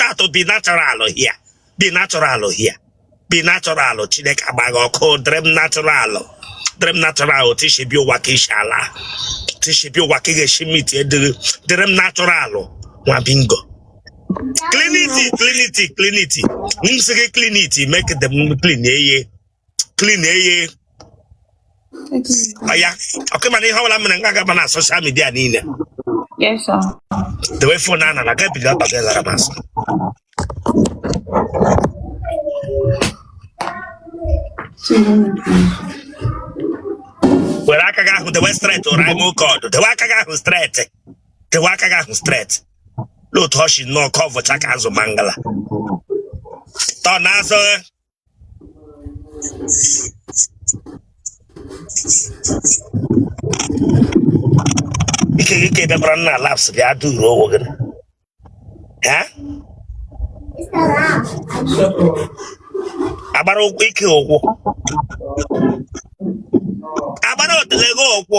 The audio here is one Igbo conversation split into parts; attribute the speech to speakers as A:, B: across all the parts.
A: out to be natural here be natural here be natural chineke agba gị ọkụ dịrị m natural dịrị m natural otu i si bịa ụwa ka i si ala otu i si bịa ụwa ka ị ga-esi miti dịrị m natural nwa bingo clean it clean it clean it m sị gị clean it make them clean eye clean eye ya okay mana ihe ọbụla mere nga gaba na social media niile
B: Yes, sir. dewe fon
A: a nara gabiga ọbaga zara masị were aka gị ahụ dewe straight ụra ime oke ọdụ dewe aka gị ahụ straight dewe aka gị ahụ straight n'otu ọchị nnọọ ka ọ vụcha ka azụ mangala tọ na azụ ike gị ka ị bịakwara na laps bịa duru onwe gị ha agbara ụkwụ ike ụkwụ agbara otele gị ụkwụ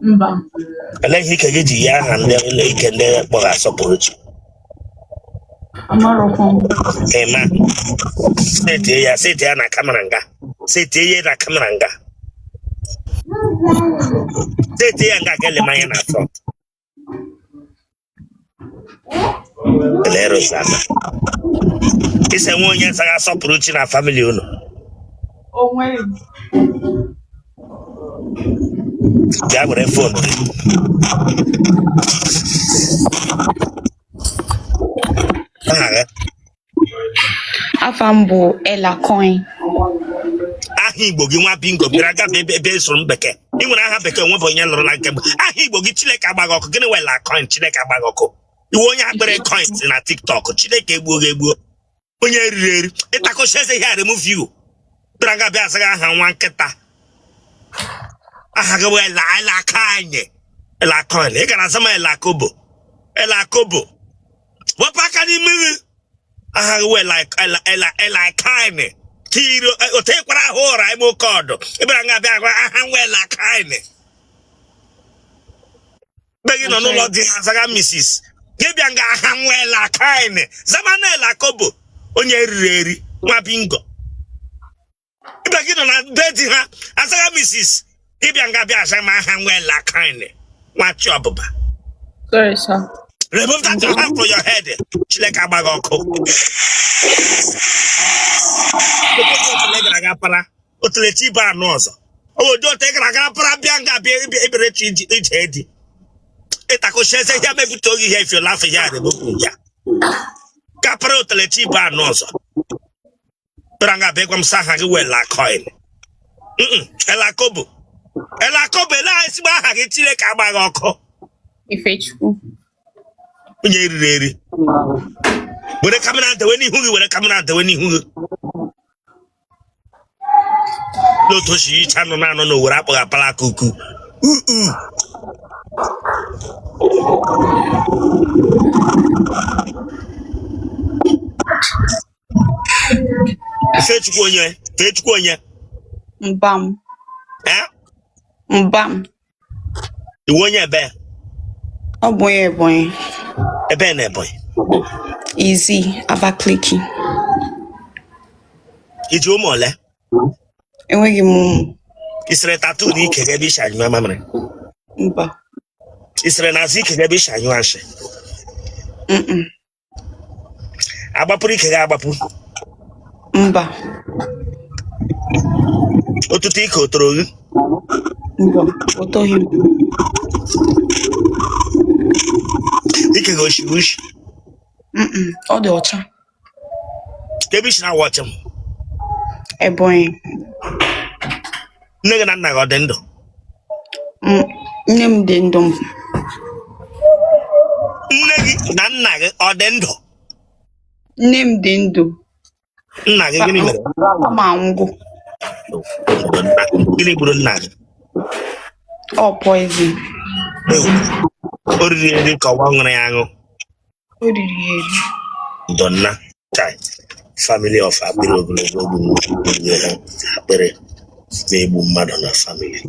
B: mba
A: Olee ihe ike gị ji ya aha ndị ụlọ ike ndị kpọrọ Asọpụrụchi?
B: amarọkwa m Ịma.
A: Setie ya, setie ya na kamera nga. Setie ya na kamera nga. Setie ya nga ga-ele m anya na front. Lerosaza. Ị sị e nwe onye zaga Asọpụrụchi na famili unu.
B: Onwere m.
A: Gaa were
B: fon. Aha gị. afa m bụ ella
A: coin aha igbo gị nwa bingo bịara nga bịa asụrụ m bekee ị nwere aha bekee onwe bụ onye lụrụ na nke bụ aha igbo gị chineke agba gị ọkụ gịnị wụ ella coin chineke agba gị ọkụ ị wụ onye akpịrị coins na tiktok chineke egbuo gị egbuo onye eriri eri ị takọcha eze ihe a remove you bịara nga bịa azaga aha nwa nkịta aha gị bụ ella ella coin ella coin ị gara azama ella kobo ella kobo wepụ aka n'imi gị aha gị wụ ella coin kiri otekwara ahụ ụra ime oke ọdụ ị bịara nga abịa gwa aha m wụ ella coin mgbe gị nọ n'ụlọ di azaga misis gị bịa nga aha m wụ ella coin zamanụ ella kobo onye eriri eri nwa bingo ibe gị nọ na be di ha azaga misis ị bịa nga bịa aza ma aha wụ ela kọin nwachi ọbụba Sorry,
B: sir. remove that your hand
A: from your head chineke gbaa gị ọkụ otule gara aga para otule chi bụ anụ ọzọ obodo ote gara aga para bịa nga bịa ịbịa- ịbịara chi iji- ije edi ịtakụchi eze ya mebute oge ihe if you laugh here remove ya ka para otule chi bụ anụ ọzọ kpere nga bụ ịgwa m sị aha gị wụ ela kọin ela kobo ela kobo elee ezigbo aha gị chileke gbaa gị ọkụ
B: Ifechukwu.
A: onye eriri eri were kamera dewe n'ihu gị were kamera dewe n'ihu gị n'otu osi yicha nọ na-anọ na owere akpọghị apala aka uku uu Ifechukwu onye Ifechukwu onye
B: Mbam
A: eh? Mbam ị wụ onye ebee ọ
B: bụ onye Ebonyi ebee
A: na Ebonyi Izzi Abakaliki i ji ụmụ ole
B: enweghị m ụmụ i sere
A: tattoo na ike gị ebe i si anyụ mamịrị mba
B: i
A: sere n'azụ ike gị ebe i si anyụ nshị a gbapuru ike gị agbapu mba otutu ike o toro gị mba
B: o toghị m
A: ike gị o shi ishi
B: Mm-mm, ọ dị
A: ọcha kee ebe i si na-awatch m Ebonyi nne gị na nna gị ọ dị ndụ
B: M- nne m dị ndụ
A: m nne gị na nna
B: gị
A: ọ dị ndụ
B: nne
A: m dị ndụ nna gị gịnị mere papa m
B: anwụgo Obodo nna
A: gị. gịnị gburu nna
B: gị ọ poison Ewu.
A: o riri eri ka ọ wụ ọ ṅụrụ ya aṅụ
B: O riri ya eri.
A: Donna Tai family of akpịrị ogologo bụ nnukwu onye ha akpịrị na-egbu mmadụ na family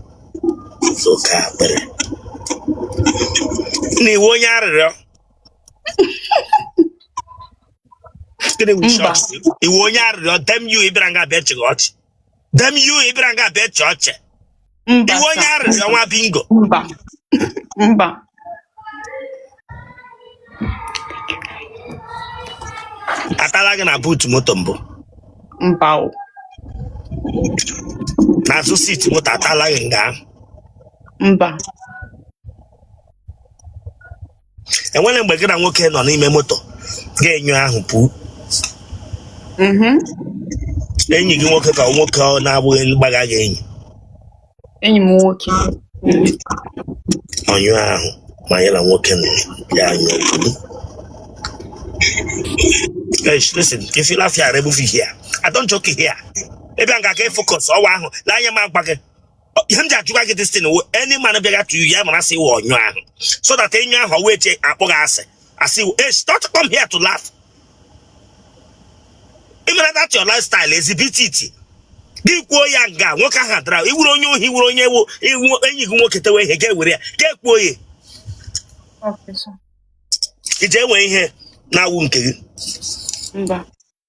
A: oke akpịrị na ị wụ onye arịrịọ Gịnị bụ Mba. shọọtụ? ị wụ onye arịrịọ damn you ị bịara nga bịa achịga ọchị damn you ị bịara nga bịa chịa ọchị mba ị wụ onye sir. arịrịọ nwa bingo
B: mba mba
A: atala gị na boot moto mbụ
B: mba
A: o n'azụ seat moto atala gị nga ahụ mba enwere mgbe gị na nwoke nọ n'ime moto gị anyụọ ahụ pụọ Mhm. enyi gị nwoke ka nwoke ọ na-abụghị mgbaga gị enyi enyi
B: m nwoke
A: ọnyụ ahụ ma ya na nwoke nọ ya anyụ pụọ Eish, listen, if you laugh here, remove it here. I don't joke here. Ebe a ga-aga focus ọwa ahụ na anya m agwa gị ihe m ji ajụga gị this thing wụ any man bịaga to you ya mara sị ị wụ ọnyụ ahụ so that any man wee che akpọ gị asị asị ị wụ hey stop come here to laugh ị mara that your lifestyle exhibit it gị kwuo ya nga nwoke ahụ dara ị wụrụ onye ohi wụrụ onye wo iwu enyi gị nwoke tewe ihe ga-ewere ya ga-ekwuo
B: ya Okay, sir. ị
A: je ewe ihe na-awụ nke gị Mba.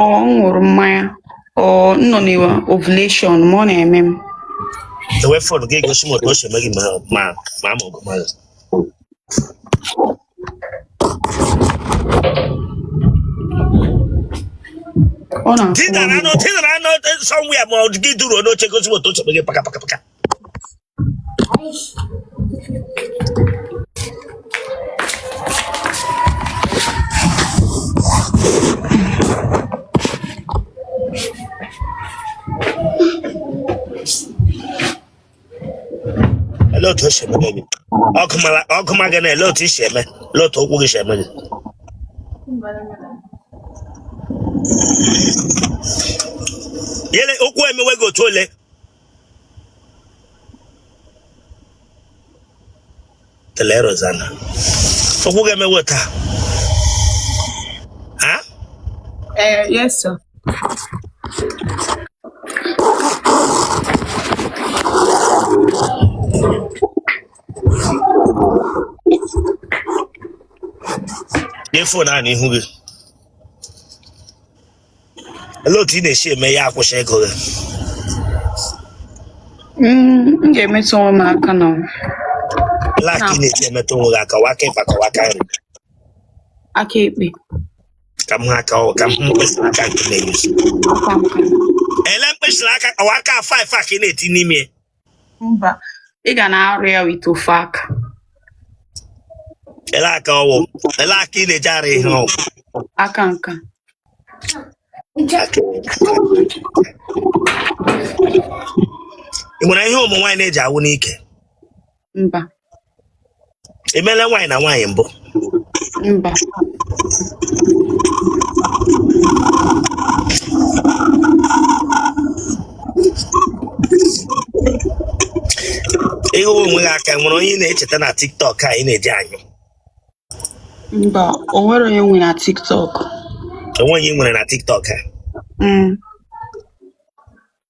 B: ọ m ṅụrụ mmanya ọ m nọ na ovulation ma ọ na-eme m ewe
A: fon gị gosi m otu o si eme gị ma ma ma ama ọgụ mmadụ ọ na-afụ tinara m anụ tinara anụ somewhere ma ọ gị duru n'oche gosi m otu o si eme gị paka paka paka ele otu o shi eme gị ọkụ ma gị na ele otu o si eme ele otu ụkwụ gị si eme gị yele ụkwụ emewe gị otu ole kelee Rosanna ụkwụ gị emewe taa ha Eh,
B: yes, sir. nye fon a n'ihu gị olee otu ị na-esi eme ya akwụsị ịgụ gị Mm, m ga-emetụ onwe m aka na
A: like ị na-esi emetụ onwe gị aka ọ wụ aka ịkpa ka ọ wụ aka
B: nri aka ekpe ka m hụ
A: aka ọ ka m hụ mkpịsị aka nke na-egosi aka nka ele mkpịsị aka ọ wụ aka five a ka ị na-eti n'ime
B: mba ị ga na-arụ ya with ofu
A: aka ele aka ọ wụ ele aka ị na-eji arụ ihe ọ wụ aka nka ị nwere ihe ụmụ nwaanyị na-eji awụ n'ike mba i meela nwaanyị na nwaanyị mbụ mba ị hịọ onwe gị aka o nwere onye ị na-echeta na tiktok a ị na-eji
B: anyụ mba o nwere onye nwe na tiktok o nwere
A: onye ị nwere na tiktok a Mm,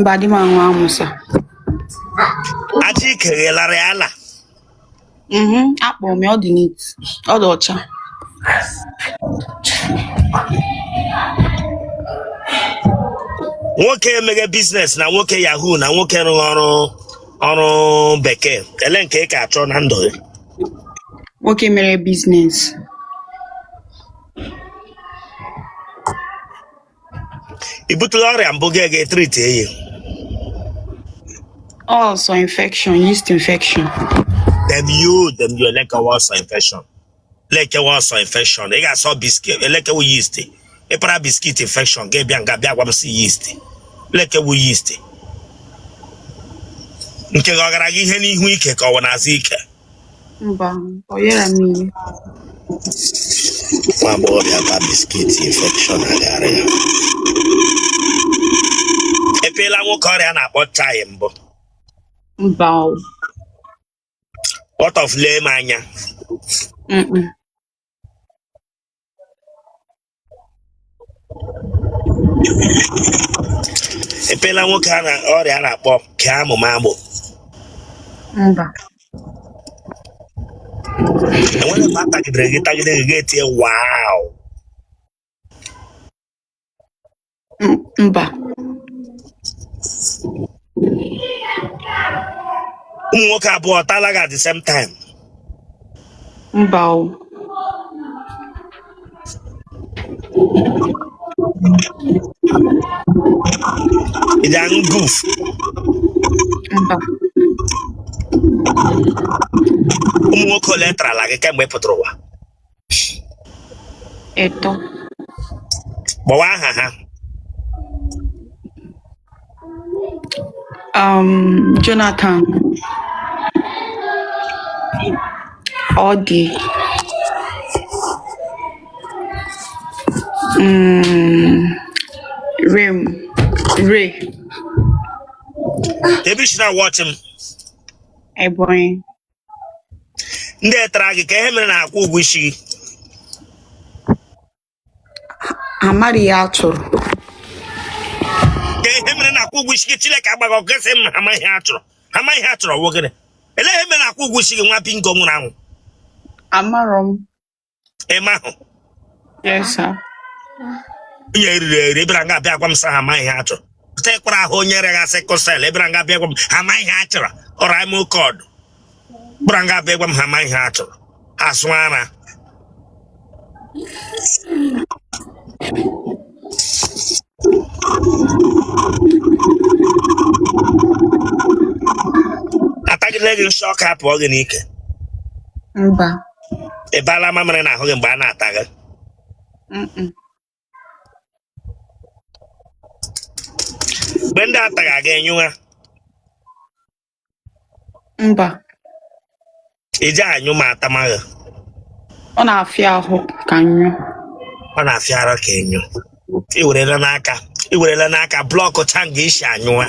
B: mba di m anwụ anwụ
A: sa aja ike ghelara ya ala
B: mhm akpọ m ya ọ dị neat ọ dị ọcha
A: nwoke meghe biznes na nwoke yahoo na nwoke rụgha ọrụ bekee elee nke ị ka achọ na ndụ
B: gị nwoke mere biznes
A: i butela ọrịa mbụ gị gaa tritie ya ọ sọ infection yeast
B: infection
A: damn you damn you elee ke wụ ọ sọ infection elee ke wụ ọ sọ infection ị ga-asị biskit elee ke wụ yeast ị para biskit infection gị abịa nga bịa gwa m sị yeast elee ke wụ yeast nke gị ọ gara gị ihe n'ihu ike ka ọ wụ n'azụ ike
B: Mba, ọ yara m
A: ihe. Nwa agbọghọbịa gba biskit infection agara ya. I peela nwoke ọrịa a na-akpọ chai mbụ.
B: Mba,
A: ọ. What of lee m anya? Mm-mm. i peela nwoke ọrịa a na-akpọ kee amụma
B: mbụ mba
A: e nwere mgbe a tagidere gị tagide gị gị etie wow
B: M-
A: mba ụmụ nwoke abụọ ataala gị at the same time
B: mba o
A: ị ga aṅụ
B: guf mba
A: ụmụ nwoke ole tarala gị kemgbe ị pụtara ụwa
B: etọ
A: kpọwa aha
B: ha um, Jonathan Odi mm, Rem
A: Ray ebee i si na-awọchị m Ebonyi ndị tara gị ka ihe mere na akwụ ụgwọ isi
B: gị amaghị ihe a chọrọ
A: ka ihe mere na akwụ ụgwọ isi gị chineke agba gị ọkụ ga-asị m ha amaghị ihe a chọrọ ọ wụ gịnị elee ihe mere na akwụ ụgwọ isi gị nwa bingo nwụrụ anwụ amarọ
B: m ịma
A: ahụ onye eriri eri ebere nga abịa gwa m sị ha amaghị ihe a chọrọ tekwara ahụ onye rịagha sickle cell ebere nga abịa gwa m ha amaghị ihe a chọrọ ọrụ ime oke ọdụ bụra nga abịa gwa m ha amaghị ihe a chọrọ asụ ara atagide gị nsị ọka apụọ gị n'ike
B: mba
A: ị baala mamịrị n'ahụ gị mgbe a na-ata gị Mm-mm. mgbe ndị ata gị aga enyụwa
B: mba
A: i ji anyụ ma atama gị
B: ọ na-afịa ahụ ka nyụ ọ
A: na-afịa ara ka enyo iwerela aka blọkụ cha nga i si anyụwa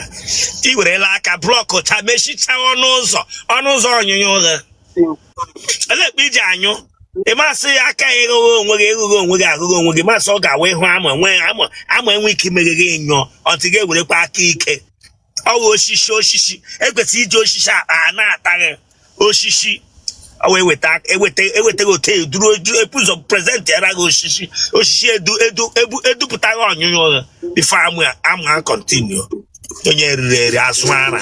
A: iwerela aka blọkụ cha mechicha ọnụ ụzọ ọnụ ụzọ ọnyụnyụ gị olee mgbe i ji anyụ ị masị ya aka ya ịghụghị onwe gị ịghụghị onwe gị aghụghị onwe gị masị ọ ga-awa ịhụ amụ enwe ike imeghe gị nyụọ ọtụ gị ewerekwa aka ike ọ wụ osisi osisi ekwesịrị iji osisi akpa a na-ata gị osisi ọ wee weta eweta ewetaghị otu eduru edu ebu ụzọ prezentị ara gị osisi edupụta gị ọnyụnyụ gị before amụ a continue onye eriri eri asụ ara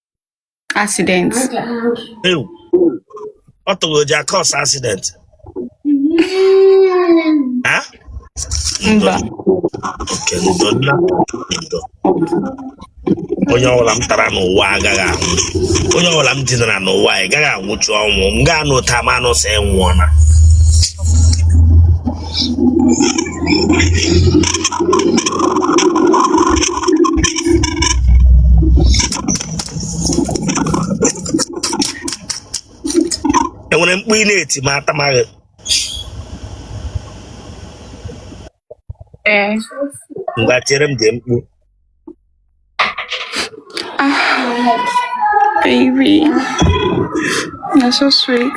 B: accident
A: Ew. ọ tụrụ o ji a cause accident ha
B: mba
A: okay ndo nna ndo onye ọbụla m tara n'ụwa agaghị anwụ onye ọbụla m dinara n'ụwa agaghị anwụchu ọnwụ m ga-anụ ụta ma anụ sị nwụọna enwere mkpu ị na-eti ma atama gị ee ngwa tiere m dị mkpu
B: baby. You're so sweet.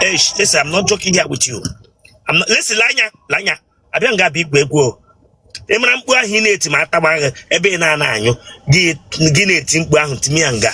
B: Hey,
A: listen, I'm not joking here with you. I'm not, listen, Lanya, Lanya, I don't got big web. ị mara mkpu ahụ ị na-eti ma atama gị ebe ị na-ana anyụ gị na-eti mkpu ahụ timi ya nga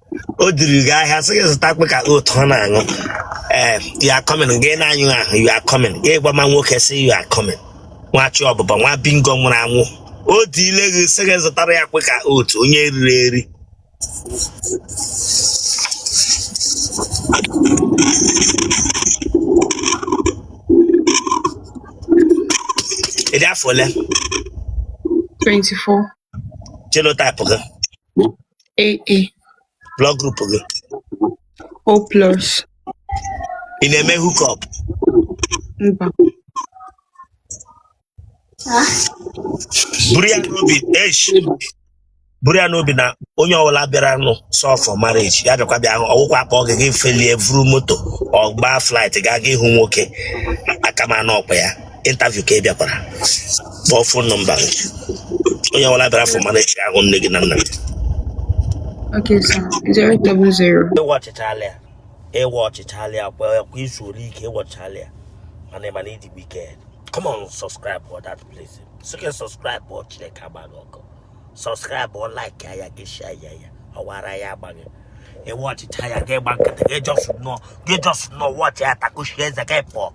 A: o diri gị ahịa sị gị zụta Quaker oat ọ na-aṅụ ee you are coming gị na-anyụ ahụ you are coming gị gwa ma nwoke sị you are coming nwa chi ọbụbọ nwa bingo nwụrụ anwụ o diile gị sị gị zụtara ya Quaker oat onye riri eri ị dị afọ ole 24.
B: genotype
A: gị
B: A A
A: Blood group gị.
B: O plus
A: Ị na-eme hook up. mba Buru ya n'obi. Eish. Buru ya n'obi na onye ọbụla bịaranụ sọ for marriage. Ya bịakwa bịa hụ ọ wụkwa a kpọọ gị gị felie vuru moto. or gbaa flight gaa ga ịhụ nwoke. Aka m anọkwa ya. interview ka ị bịakwara kpọọ phone number gị onye ọbụla bịara for marriage ahụ nne gị na nna
B: gị Okay, sir. Zero double zero. ị watchịchala ya
A: ị watchịchala ya kwa kwa izu ole ike ị watchịchala ya mana ị ma na ị dị wicked come on subscribe for that place sị gị subscribe before Chineke agba gị ọkụ subscribe o like ya gị share ya ya ọwara ya agba gị ị watchịcha ya gị gba nkịtị gị just nọ gị just nọ watch ya takushi eze gị pụọ